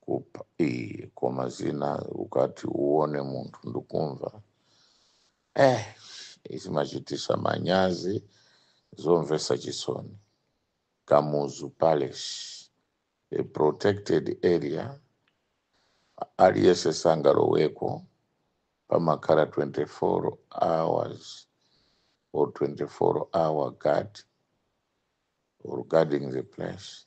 kupha eh, koma zina ukati uone munthu ndikumva eh, izimachitisa manyazi zomvesa chisoni kamuzu palace a protected area aliyese sangaloweko pamakhala 24 hours or 24 hour guard or guarding the place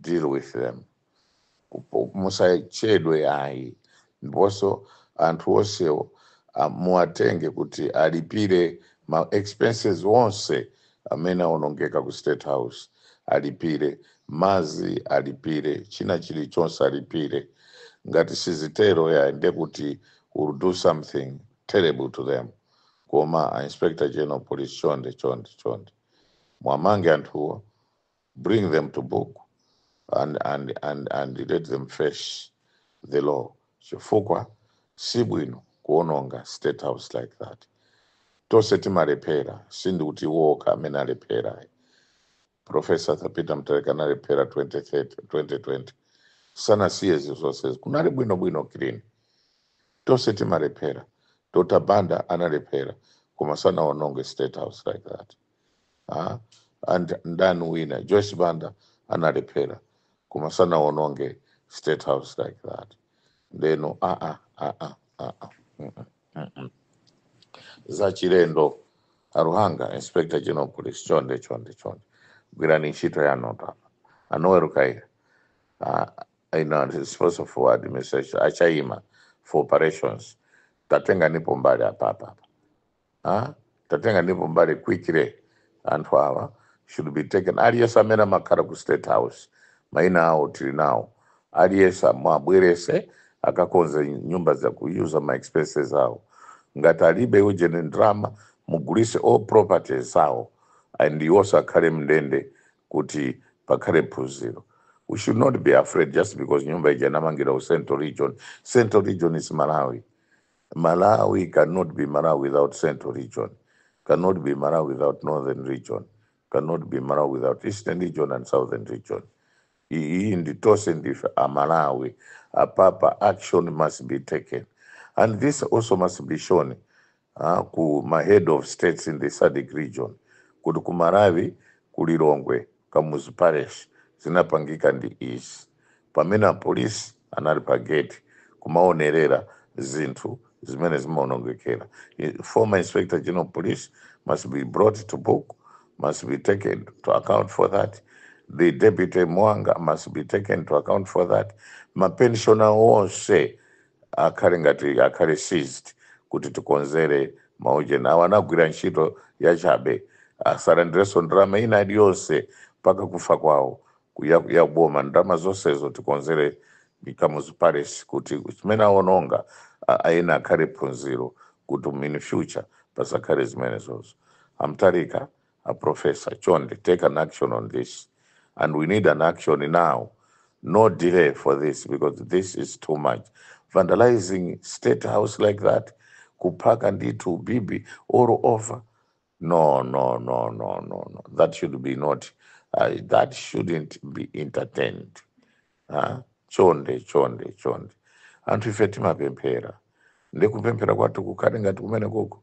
deal with them musachedwe ayi ndiponso anthu onsewo ah, muwatenge kuti alipire ma expenses onse amene aonongeka ku state house alipire mazi alipire china chilichonse alipire ngati sizitero yayi nde kuti we'll do something terrible to them koma a inspector general police chonde chonde chonde mwamange anthuwo bring them to book and, and, and, and let them face the law chifukwa si bwino kuononga state house like that tonse timalephera sindikuti iwo okha amene alephera professor Peter Mutharika analephera 20 2020 sanasiye zinthu zonse kunali bwinobwino clean tonse timalephera dr banda analephera koma sanaononge state house like that ah, and ndani winanso joyce banda analephera koma sanawononge state house like that ndeno ah, ah, ah, ah, ah, ah. Mm, mm, mm, mm. za chilendo a Luhanga inspector general police chonde chonde chonde gwirani ntchito yanu a Noel Kayira uh, you know, responsible for administration a Chaima for operations tatenganipo mbali apapa apa Ah, tatenganipo mbali quickly anthu awa should be taken aliyense amene amakhala ku state house maina awo tili nawo aliyense mwabwerese akakonze nyumba zaku user ma expenses awo ngati alibe ujeni ndrama mugulise all properties awo and iwonso akhale mndende kuti pakhale phunziro we should not be afraid just because nyumba ija inamangidwa ku central region central region is malawi Malawi can not be Malawi without central region, can not be Malawi without northern region, can not be Malawi without eastern region and southern region. Iyi ndi tonse ndife a Malawi. Apapa action must be taken. And this also must be shown uh, ku ma head of states in the SADC region kuti ku Malawi ku Lilongwe Kamuzu Palace zinapangika ndi izi, pamene a Police anali pa gate kumaonerera zinthu zimene zimaonongekera, Former Inspector General of Police must be brought to book, must be taken to account for that, the Deputy Mwanga must be taken to account for that, ma Pensioner onse akhale ngati akhale seized kuti tikonzere ma ujeni awo anagwira ntchito yachabe asalandirenso ndalama ina iliyonse mpaka kufa kwawo ku- ya, ya boma ndalama zonsezo tikonzere Kamuzu Palace kuti zimene awononga a- ayina akhale phunziro kuti in future pasakhale zimenezozo a Mtalika a professor chonde take an action on this and we need an action now no delay for this because this is too much vandalizing state house like that kuphaka ndithu bibi all over no no no no no no that should be not uh, that shouldn't be entertained huh? chonde chonde chonde anthu ife timapemphera ndikupemphera kwathu kukhale ngati kumene koko